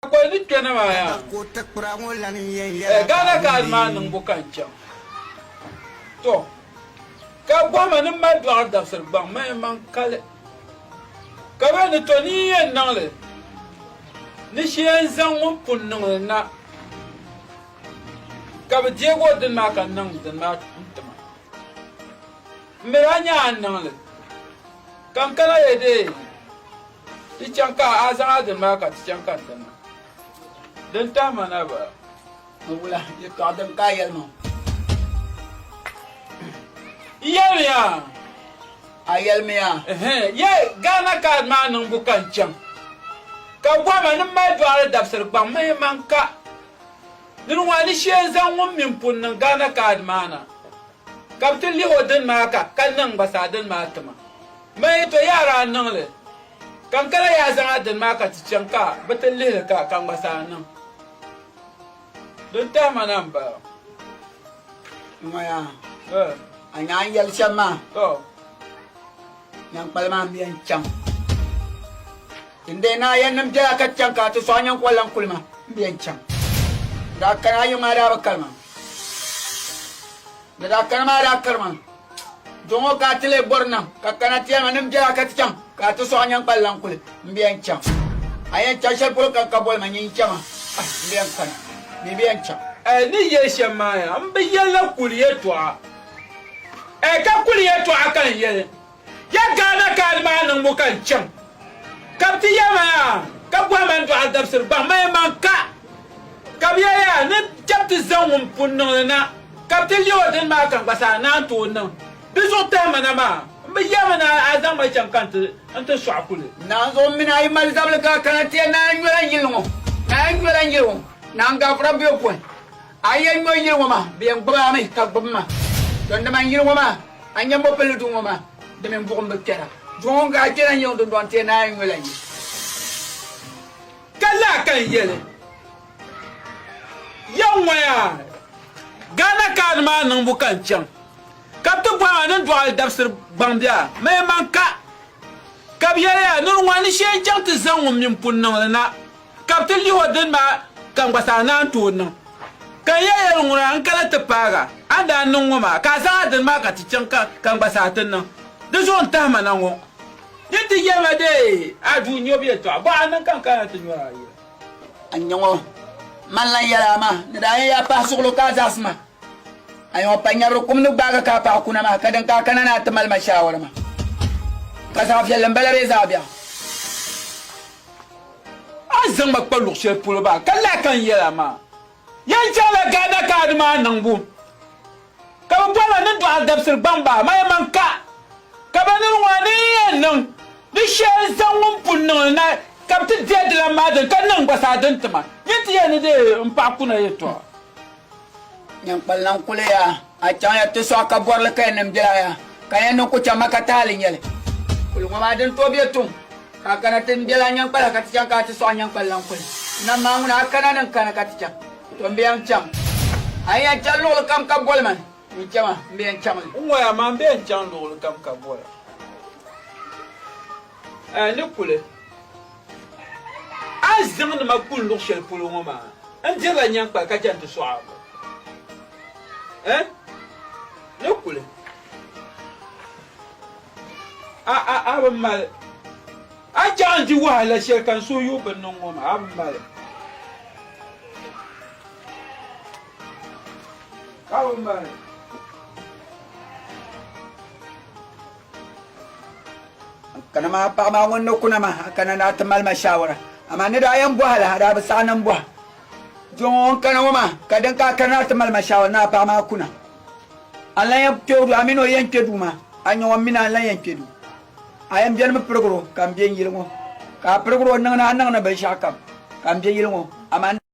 Kpakol ni kpɛna maa yaa eh, Ghana card maa niŋbu ka n chaŋ tɔ ka gɔhima ni mali dɔɣiri dabisiri gbaŋ ma yɛn maŋ kali ka bɛ ni tɔ ni yɛn niŋli ni shi yɛn zaŋ ŋun pun niŋli na ka bi deegi o dini maa ka n niŋ dini maa n tima n mi daa nya a niŋli ka n kana yɛ deei Ti chaŋ ka a zaŋ a dini maa ka ti chaŋ ka n ti niŋ din tahi ma na ba. Ni wula yɛtɔɣ din ka a yɛlimaŋ? N yɛlimiya. A yɛlimiya. Yɛ Ghana kaad maa niŋbu ka n chaŋ ka bɔhi ma ni m mali dɔɣiri dabisiri gbaŋ mihi man ka. Nini ŋɔ a ni shee n zaŋ ŋun min pun niŋ Ghana kaad maa na Ka bɛ ti lihi o dini maa ka ka niŋ gba saa dini maa ti ma. Mani yi to yi a daa niŋ li. Ka n kala yi a zaŋ a dini maa ka ti chaŋ ka bɛ ti lihi li ka ka n gba saa niŋ. Din tahi ma na m-bala. Ŋɔya, a nyaŋ yɛli shɛm maa. Nyankpali maa mi yɛn chaŋ. Tindee naa yɛn nim biɛla ka chaŋ ka a ti sɔɣi nyankɔli lan kuli ma m yɛn chaŋ. Ni daa kani a yiŋ maa daa bi kari ma. Ni daa kani maa daa kari ma. Duɣi ŋɔ ka a ti lee bɔri nam ka kana ti yɛli ma nim biɛla ka ti chaŋ ka a ti sɔɣi nyankpali lan kuli m yɛn chaŋ. A yɛn chaŋ shɛli polo ka ka boli ma nyin chɛ ma ah m yɛn kani mi bi yɛn chaŋ. Ni yɛli shɛm maa yaa m bi yɛli la kuli yɛtɔɣa. Ɛɛ ka kuli yɛtɔɣa ka n yɛli ya Ghana kaadi maa niŋbu ka n chaŋ ka bɛ ti ya ma yaa ka bɔhi ma n dɔɣi dabisiri gbaŋ ma yɛn maŋ ka ka bɛ ya yaa ni chɛ bɛ ti zaŋ ŋun pun niŋ li na ka bɛ ti lihi o dini maa ka n gba saa naan tooi niŋ di zuɣu tahi ma na maa m bi yɛli mi ni a zaŋ ma chaŋ ka n ti sɔɣi kuli. Naanzu o mini a yi mali zabili ka a kana ti ya naan nyɔla n yili ŋɔ naan nyɔla n yili ŋɔ naan gaafura be o pɔi. A yɛn nyo yili ŋɔ maa, bɛ yɛn gbibi a mi, ka gbibi ma. Ton dama n yili ŋɔ maa, a nya mɔpilli duu ŋɔ maa, di mini buɣim bi kpɛra. Duŋɔ ŋun ka a kpɛna n-yiɣi dundɔŋ ti naai n-nyo la yi. Ka laa ka n yɛli ya ŋɔ yaa, Ghana kaadi maa niŋbu ka n chaŋ, ka bɛ ti bɔhi ma ni n dɔɣi li dabisiri gbaŋ bɛ a ma yɛn man ka, ka bɛ yɛli ya, nir ŋɔ ni shee n-chaŋ ti zaŋ ŋun min pun niŋ li na. Ka bɛ ti lihi o dini maa ka n gba saa ni a ni tooi niŋ. Ka n yɛn yɛli ŋuna n kana ti paag a, a ni daa niŋ ŋɔ maa, ka a zaŋ a dini maa ka ti chaŋ ka n gba saa ti niŋ. Di zuɣu n tahi ma na ŋɔ. Di ti yɛli ma dee, a duu nyɔbu yɛltɔɣa, bɔ a niŋ ka n kana ti nyɔri a yila. A nya ŋɔ, man lan yɛli a maa ni daa yɛn ya pahi suɣulo ka a zaɣisi ma. A nya ŋɔ pa nyɛbiri kum ni gbaag a ka a paɣi kuna maa, ka din ka a kana ni a ti mali ma shaawara maa. Ka zaɣ viɛlli m-bala bee zaɣ biɛɣu? A ni zaŋ ma kpa luɣ shɛli polo maa ka lahi kan yɛl a maa. Yen chaŋla Ghana kaadi maa niŋbu ka bɛ bɔri la ni dɔɣi dabisili gbaŋ bahi ma yɛlimaŋ ka ka ba nir ŋɔ ni yi yɛn niŋ di shɛli zaŋ ŋun pun niŋ li na ka bɛ ti deei di lan maa dini ka niŋ gba zaa din ti ma. Yen ti yɛli ni di n paɣi kuna yɛltɔɣa. Nyankpalina n-kuli ya, a chaŋya ti sɔɣi ka bɔri li ka ya nim bela ya, ka ya niŋ ku chaŋ ma ka taali nyɛli. Kuli ŋɔ maa din tooi be tuŋ, ka a kana ti m-bela Nyankpala ka ti chaŋ ka a ti sɔɣi Nyankpalina n-kuli nam ma a ŋuna a kana ni n-kani ka ti chaŋ, to m-be ya n-chaŋ. A yi yan chani luɣili kam ka boli man, yi chɛ ma, m-be ya n-chaŋ li. N ŋɔ ya maa m-be ya n-chaŋ luɣili kam ka boli a. A ni kuli. A zaŋnima kuli luɣ shɛli polo ŋɔ maa, n dirila nyaŋkpali ka chɛ nti sɔɣ a bɔ? Ɛ? Di kuli. A, a, a bi mali. A chaŋ n-di wahala shɛli ka n suhu yuui bɛ ni niŋ ŋɔ maa, a bi mali. A bi mali. kana maa paɣa maa ŋun ni kuna ma a kana naa ti mali ma shawara amaa ni daa yɛn bɔha la a daa bi saɣi niŋ bɔha jo ŋɔ ŋun kana ŋɔ maa ka din ka a kana naa ti mali ma shawara ni a paɣa maa kuna a lan yɛn kpɛ o duu a mini o yɛn kpɛ duu maa a nyɛ ŋɔ mini a lan yɛn kpɛ duu a yɛn bɛni mi pirigiro ka n bɛ n yili ŋɔ ka a pirigiro niŋ ni a niŋ ni binshɛɣu kam ka n bɛ yili ŋɔ amaa